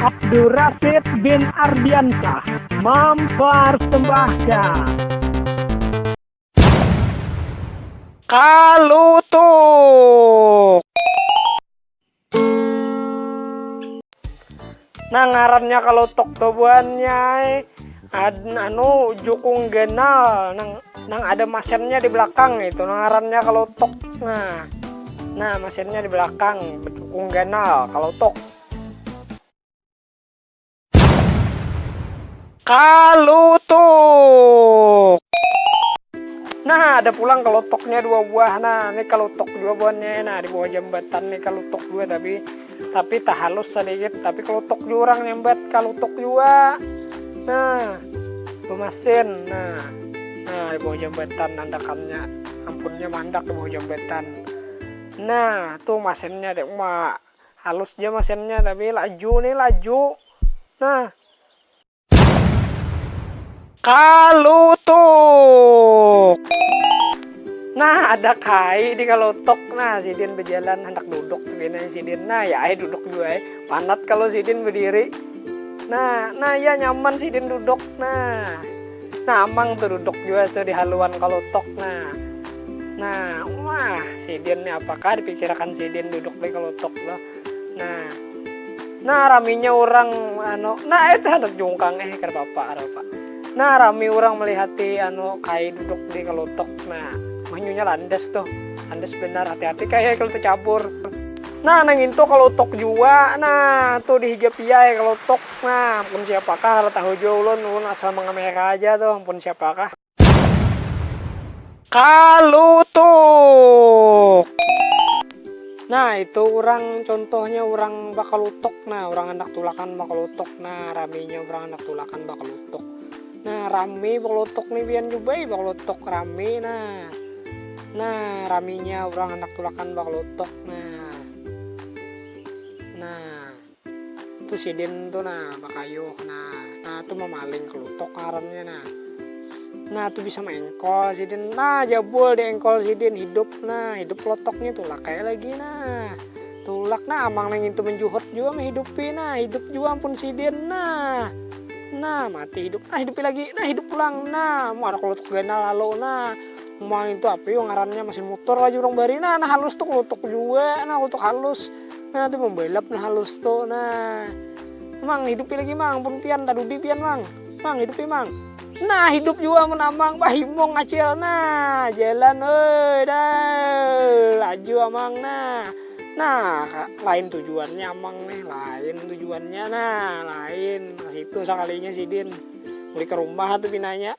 Abdurrasid bin Ardiansah mempersembahkan. Kalutuk. Nah ngarannya kalutuk tuh buannya anu jukung ganal nang nang ada mesinnya di belakang itu nah, ngarannya kalutuk nah nah mesinnya di belakang jukung ganal kalutuk Kalutuk. Nah, ada pulang kelotoknya dua buah. Nah, ini kelotok dua buahnya. Nah, di bawah jambatan nih kelotok dua tapi tapi tak halus sedikit, tapi kelotok dua orang nyambat kelotok dua. Nah, pemasin. Nah, nah di bawah jambatan nandakannya. Ampunnya mandak di bawah jambatan. Nah, tuh masinnya dek mak. Halus ja masinnya tapi laju nih laju nah. Kalutuk. Nah ada kai di kalutuk nah sidin bejalan handak duduk pina sidin nah ya ai duduk jua ai panat kalu sidin bediri nah nah ya nyaman sidin duduk nah. Namang tu duduk jua tu di haluan kalutok nah. Nah, wah, sidin ni apakah dipikirakan sidin duduk di kalutok tu. Nah, nah raminya orang anu, nah itu handak jungkang eh kada apa-apa, apa. Nah, rami orang melihati anu kai duduk di kalutok. Nah, manyunya landas tuh. Landas banar, hati-hati kai kalau tecabur. Nah, nang itu kalutok jua, nah tu dihijab iya ai kalutok. Nah, ampun siapakah, kada tahu jua ulun, ulun asal mangamera aja tuh, ampun siapakah. Kalutuk! Nah, itu urang, contohnya urang bakalutuk, nah urang handak tulakan bakalutuk, nah raminya urang handak tulakan bakalutuk. Nah, rami bakalutuk nih pian jua bae bakalutuk, rami nah. Nah, raminya urang handak tulakan bakalutuk, nah. Nah. tu sidin tu nah bakayuh nah nah tu mamaling kelutuk ngarannya nah nah tu bisa mengkol sidin nah jabul di engkol sidin hidup nah hidup kelotoknya tulak kayak lagi nah tulak nah amang nang itu menjuhut juga menghidupi nah hidup juga ampun sidin nah nah mati hidup nah hidupi lagi nah hidup pulang nah mau ada kelutuk ganal lalu nah mau itu apa yuk ngarannya masih mutur lagi orang bari nah nah halus tuh kelutuk juga nah kelutuk halus nah tu membelap nah halus tu nah mang hidupi lagi mang pun pian tadudi pian mang mang hidupi mang nah hidup jua mun amang pahimung acil nah jalan oi dah laju amang nah nah lain tujuannya amang nih lain tujuannya nah lain nah itu sakalinya sidin mulai ke rumah tu pinanya.